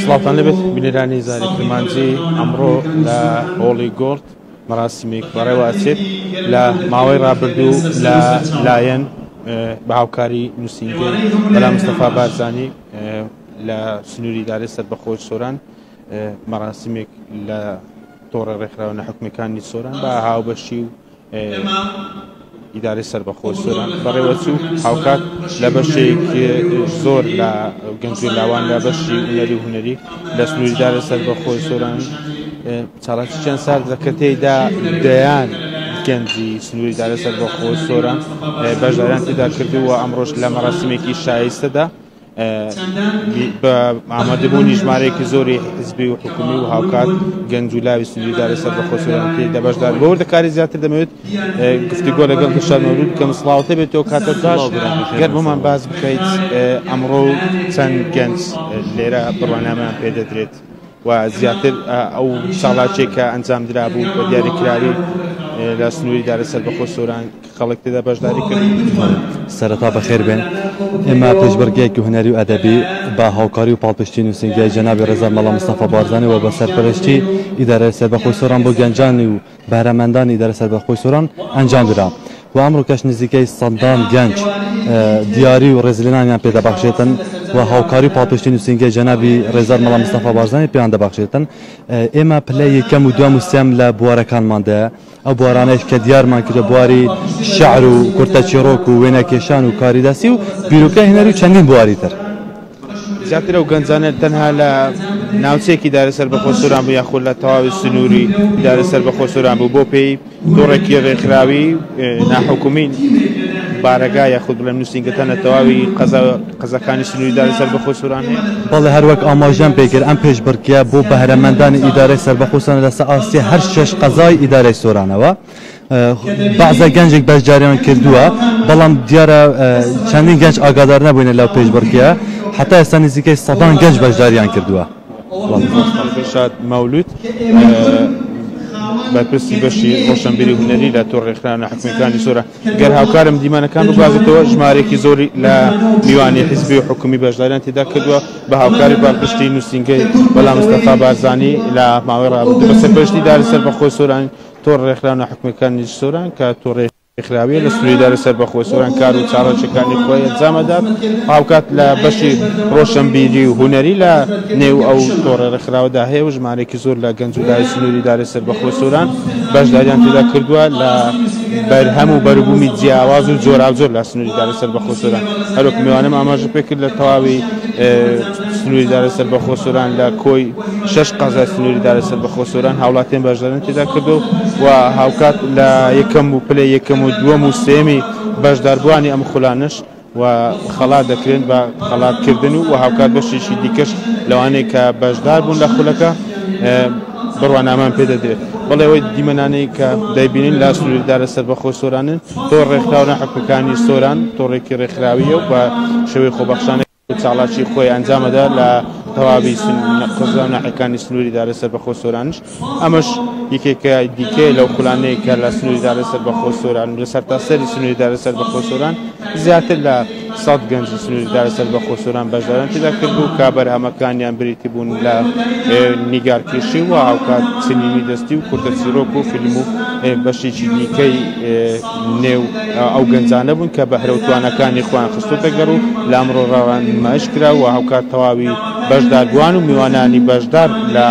سڵاوتان لەبێت بینەرانی زاری کرمانجی ئەمڕۆ لە هۆڵی گۆرد مەراسیمێک بەڕێوە ئەچێت لە ماوەی ڕابردوو لە لایەن بە هاوکاری نووسینگە بەلا مستەفا بارزانانی لە سنووری دارێ سەر بەخۆی سۆران مەراسیمێک لە تۆڕە ڕێکخراوە نەحکومەکانی سۆران بە هاوبەشی و ئیدارەی سەربەخۆی سۆران بەڕێوەچوو، هاوکات لە بەشێکی زۆر لە گەنج و لاوان لە بەشی هونەری و هونەری لە سنووری ئیدارەی سەربەخۆی سۆران چالاکییان ساردە کە تێیدا دەیان گەنجی سنووری ئیدارەی سەربەخۆی سۆران بەشداریان تێدا کردووە، ئەمڕۆش لە مەراسیمێکی شایستەدا بە ئامادەبوونی ژمارەیەکی زۆری حزبی و حکومی و هاوکات گەنج و لاوی سنووریداری سەر بە خۆسەرانتی لە بەشدار بۆ دەکاری زیاتر دەمەوێت گفتیگۆ لەگەڵ گەشان مەولود بکەم سڵاوتە بێت تۆ کاتە باش گەر بۆمان باز بکەیت ئەمڕۆ و چەند گەنج لێرە بڕوانامیان پێ دەدرێت و زیاتر ئەو ساڵاچێک کە ئەنجام درابوو بە دیاریکراوی لە سنووری دارە سەر بەخۆ سۆران خەڵک تێدا بەشداری کرد. سەرەتا بەخێر بێن. ئێمە پێشبڕکێکی هونەری و ئەدەبی بە هاوکاری و پاڵپشتی نووسینگەی جەنابی ڕێزا مەلا مستەفا بارزانی و بە سەرپەرشتیی ئیدارەی سەربەخۆی سۆران بۆ گەنجانی و بەهرەمەندانی ئیدارەی سەربەخۆی سۆران ئەنجام درا و ئەمڕۆکەش نزیکەی سەدان گەنج دیاری و ڕێزلێنانیان پێ دەبەخشێتن و هاوکاری و پاڵپشتی نووسینگەی جەنابی ڕێزا مەلا مستەفا بارزانی پێیان دەبەخشێتن. ئێمە پلەی یەکەم و دووەم و سێم لە بوارەکانماندایە. ئەو بوارانەیش کە دیارمان کردوە بواری شعر و کورتە چیڕۆک و وێنە کێشان و کاری دەستی و بیرۆکەی هونەری و چەندین بواری تر. زیاتر ئەو گەنجانە تەنها لە ناوچەیەکی دایرە سەربەخۆ سۆران بوو یاخود لە تەواوی سنووری دایرە سەربەخۆ سۆران بوو بۆ پێی تۆڕێکی ڕێکخراوی ناحکومی بارەگا یاخود بڵێم نووسینگەکان لە تەواوی قەزا قەزاکانی سنووری داری سەربەخۆی سۆران هەیە؟ بەڵێ، هەروەک ئاماژەم پێ کرد، ئەم پێشبڕکێیە بۆ بەهرەمەندانی ئیدارەی سەربەخۆ سۆرانە لەسەر ئاستی هەر شەش قەزای ئیدارەی سۆرانەوە. بەعزە گەنجێک بەشداریان کردووە، بەڵام دیارە چەندین گەنج ئاگادار نەبووینە لەو پێشبڕکێیە، هەتا ئێستا نزیکەی سەدان گەنج بەشداریان کردووە. دڵشاد مەولوود، بەرپرسی بەشی ڕۆشنبیری هونەری لە تۆڕی ڕێکخراوە ناحکومییەکانی سۆران، گەر هاوکارم دیمەنەکان بگوازێتەوە، ژمارەیەکی زۆری لە میوانی حیزبی و حکومی بەشداریان تێدا کردووە، بە هاوکاری پاڵپشتی نووسینگەی مەلا مستەفا بارزانی لە ماوەی رابردوو، بە سەرپەرشتی ئیدارەی سەربەخۆی سۆران تۆڕ رێکخراو ناحکومیەکانی سۆران کە تۆڕێکی رێکخراویە لە سنوری ئیدارەی سەربەخۆی سۆران کار و چالاکیەکانی خۆی ئەنجام ئەدات و هاوکات لە بەشی رۆشەنبیری و هونەری لە نێو ئەو تۆڕە رێکخراوەدا هەیە و ژمارەیەکی زۆر لە گەنج و لاوی سنوری ئیدارەی سەربەخۆی سۆران بەشداریان تێدا کردووە لە بەرهەم و بەروبوومی جیاواز و جۆراوجۆر لە سنووری دارای سەربەخۆ سۆران. هەروەک میوانم ئاماژە پێ کرد لە تەواوی سنووری دارای سەربەخۆ سۆران لە کۆی شەش قەزای سنووری دارای سەربەخۆ سۆران هاوڵاتیان بەشداریان تێدا کردووە و هاوکات لە یەکەم و پلەی یەکەم و دووەم و سێیەمی بەشداربووانی ئەم خولانەش و خەڵات دەکرێن بە خەڵات کردن و هاوکات بەشێکی دیکەش لەوانەیە کە بەشدار بوون لە خولەکە بڕوانامان پێ دەدرێت بەڵێەوەی دیمەنانەی کە دەیبینین لا سووردارە سەربەخۆ سۆرانن تۆ ڕێکخراونە حقەکانی سۆران تۆڕێکی ڕێکخراویە و بە شێوەی خۆبەخشانە چاڵاکی خۆی ئەنجامەدا لە تەواوی قزانە حەکانی سنووری دارە سەربەخۆ سۆرانش ئەمەش یەکێکە دیکەیە لەو خولانەی کە لە سنووری دارای سەربەخۆی سۆران و لە سەرتاسەری سنووری دارای سەربەخۆی سۆران زیاتر لە سەد گەنجی سنووری دارای سەربەخۆی سۆران بەشداریان تێدا کردبوو کە بەرهەمەکانیان بریتی بوون لە نیگارکێشی و هاوکات چنینی دەستی و کورتە چیرۆک و فیلم و بەشێکی دیکەی نێو ئەو گەنجانە بوون کە بەهرە و توانەکانی خۆیان خستۆتە گەڕ و لە ئەمڕۆ ڕاڕا نمایش کرا و هاوکات تەواوی بەشداربووان و میوانانی بەشدار لە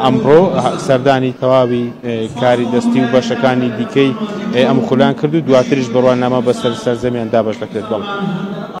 ئەمڕۆ سەردانی تەواوی کاری دەستی و بەشەکانی دیکەی ئەم خولەیان کرد و دواتریش بڕوانامە بەسەر سەرجەمیان دابەش دەکرێت.